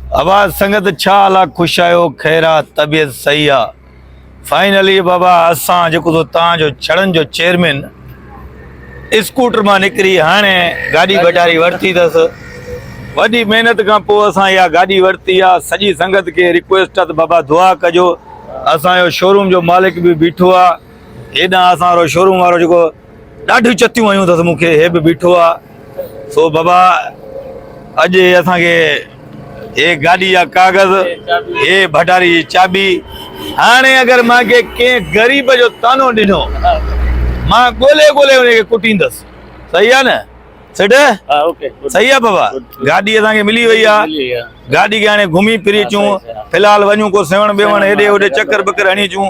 ابا سنگت ڇا حال آ خوش آهيو خير آ طبيعت صحيح آ فائنلي بابا اسان جيڪو سو تان جو ڇڙن جو چيئرمين اسڪوٽر مان نڪري هاڻي گاڏي بٽاري ورتي اٿس وڏي محنت کان پوء اسان اها گاڏي ورتي آ سڄي سنگت کي ريڪويسٽ آ ته بابا دعا ڪجو اسان جو شوروم جو مالڪ به بيٺو آ هيڏانهن اسان وارو شوروم وارو جيڪو ڏاڍيون چتيون هنيون اٿس مون کي، هي به بيٺو آ، سو بابا اڄ اسان کي هي گاڏي جا ڪاغذ، هي ڀٽاري جي چاٻي، هاڻي اگر مان کي ڪنهن غريب جو طعنو ڏنو، مان ڳولي ڳولي انهي کي ڪٽيندس، صحيح آ نه سيٺ؟ صحيح آ بابا، گاڏي اسان کي ملي وئي آ، گاڏي کي هاڻي گهمي ڦري اچون، في الحال وڃون ڪو سيوهڻ ٻيوهڻ هيڏي هوڏي چڪر ٻڪر هڻي اچون.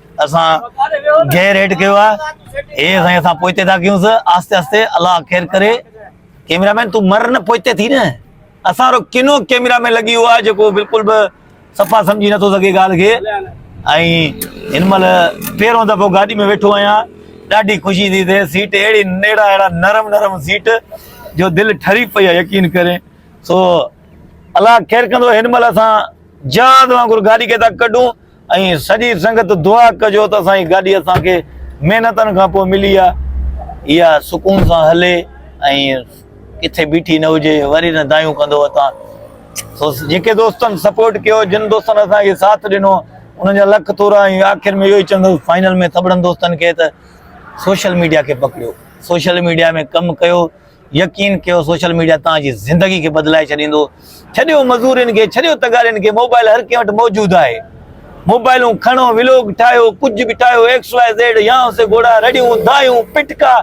اسان غير هيٺ ڪيو آ اي سائين اسان پوئتي ٿا ڪيون سا آهستي آهستي الله خير ڪري ڪيمرا مين تون مر نه پوئتي ٿي نه اسان رو ڪنو ڪيمرا مين لڳي هو آ جيڪو بالڪل به صفا سمجهي نه ٿو سگهي ڳالهه کي ۽ هن مهل پهرون دفعو گاڏي ۾ ويٺو آهيان ڏاڍي خوشي ٿي ٿئي سيٽ اهڙي نيڙا اهڙا نرم نرم سيٽ جو دل ٺري پئي آ يقين ڪري سو الله خير ڪندو هن مهل اسان جهاز وانگر گاڏي کي ٿا ڪڍون ۽ سڄي سنگت دعا ڪجو ته اسان جي گاڏي اسان کي محنتن کان پوء ملي آ اها سڪون سان هلي ۽ ڪٿي بيٺي نه هجي وري نه دايون ڪندو اتان سو جيڪي دوستن سپورٽ ڪيو جن دوستن اسان کي ساٿ ڏنو انهن جا لک ٿورا ۽ آخر ۾ اهو ئي چوندو فائنل ۾ سڀڙن دوستن کي ته سوشل ميڊيا کي پڪڙيو سوشل ميڊيا ۾ ڪم ڪيو يقين ڪيو سوشل ميڊيا توهان جي زندگي کي بدلائي ڇڏيندو ڇڏيو مزورين کي ڇڏيو تغارين کي موبائل هر ڪنهن وٽ موجود آهي موبائلون کڻو ولوگ ٺاهيو ڪجهه به ٺاهيو ايڪس واء زيڊ يا سي گهوڙا رڙيون دايون پٽڪا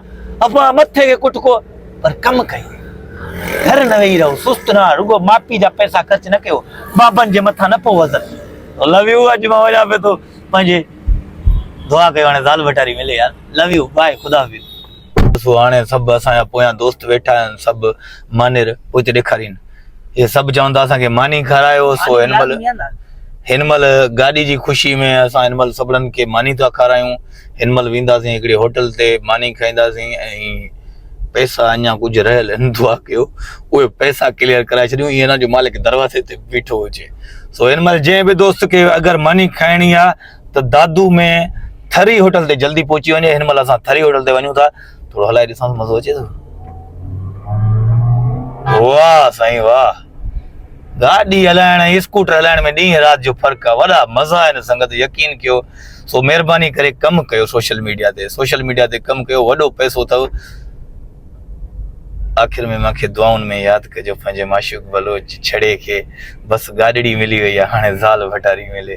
افا مٿي کي ڪٽڪو پر ڪم ڪيو گهر نه ويهي رهو سست نه رڳو ماپي جا پئسا خرچ نه ڪيو بابن جي مٿان نه پو وزن لو يو اڄ مان وڃان پيو ٿو پنهنجي دعا ڪيو هاڻي زال ڀٽاري ملي يار لو يو بائي خدا حافظ ڏسو هاڻي سڀ اسان جا پويان دوست ويٺا آهن سڀ مانير پوئتي ڏيکارين اهي سڀ چون ٿا اسان کي ماني کارايو سو هن مهل هن مهل گاڏي جي خوشي ۾ اسان هن مهل سڀنن کي ماني ٿا کارايون هن مهل وينداسين هڪڙي هوٽل تي ماني کائينداسين ۽ پئسا اڃا ڪجهه رهيل آهن دعا ڪيو اهي پئسا ڪليئر ڪرائي ڇڏيون ائين نه جو مالڪ دروازي تي بيٺو هجي سو هن مهل جنهن به دوست کي اگر ماني کائڻي آهي ته دادو ۾ ٿري هوٽل تي جلدي پهچي وڃي هن مهل اسان ٿري هوٽل تي وڃون ٿا ٿورو هلائي ڏسان ٿو مزو اچي ٿو واهه سائين واهه گاڏي هلائڻ ۽ اسڪوٽر هلائڻ ۾ ڏينهن رات جو فرق آهي وڏا مزا آهن سنگت يقين ڪيو سو مهرباني ڪري ڪم ڪيو سوشل ميڊيا تي سوشل ميڊيا تي ڪم ڪيو وڏو پئسو اٿو آخر ۾ مونکي دعائن ۾ ياد ڪجو پنهنجي معشوق بلوچ ڇڙي کي بس گاڏڙي ملي وئي آهي هاڻي زال ڀٽاري ملي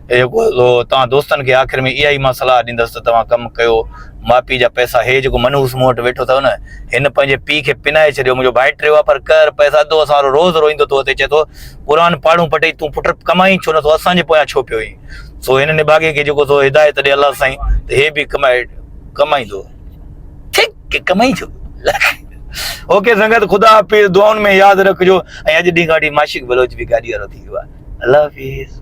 توهان دوستن کي آخر ۾ اها ئي مان صلاح ڏيندس ته توهان ڪم ڪيو ماپي جا پئسا هي جيڪو منحوس مون وٽ ويٺو اٿئو نه هن پنهنجي پيء کي پنائي ڇڏيو منهنجو ڀائٽ رهيو آهي پر قهر پئس اڌو اسان وارو روز روئيندو ٿو اچي چئي ٿو قرآن پاڙون پٽئي تون پٽ ڪمائين ڇو نٿو اسان جي پويان ڇو پيو آهين سو هن نڀاڳي کي جيڪو سو هدايت ڏي الله سائين ته هي به ڪمائي ڪمائيندو ٺيڪ ڪمائيندو اوڪي سنگت خدا حافظ دعائن ۾ ياد رکجو ۽ اڄ ڏينهن کان وٺي معاشق بلوچ به گاڏي وارو ٿي ويو آهي الله حافظ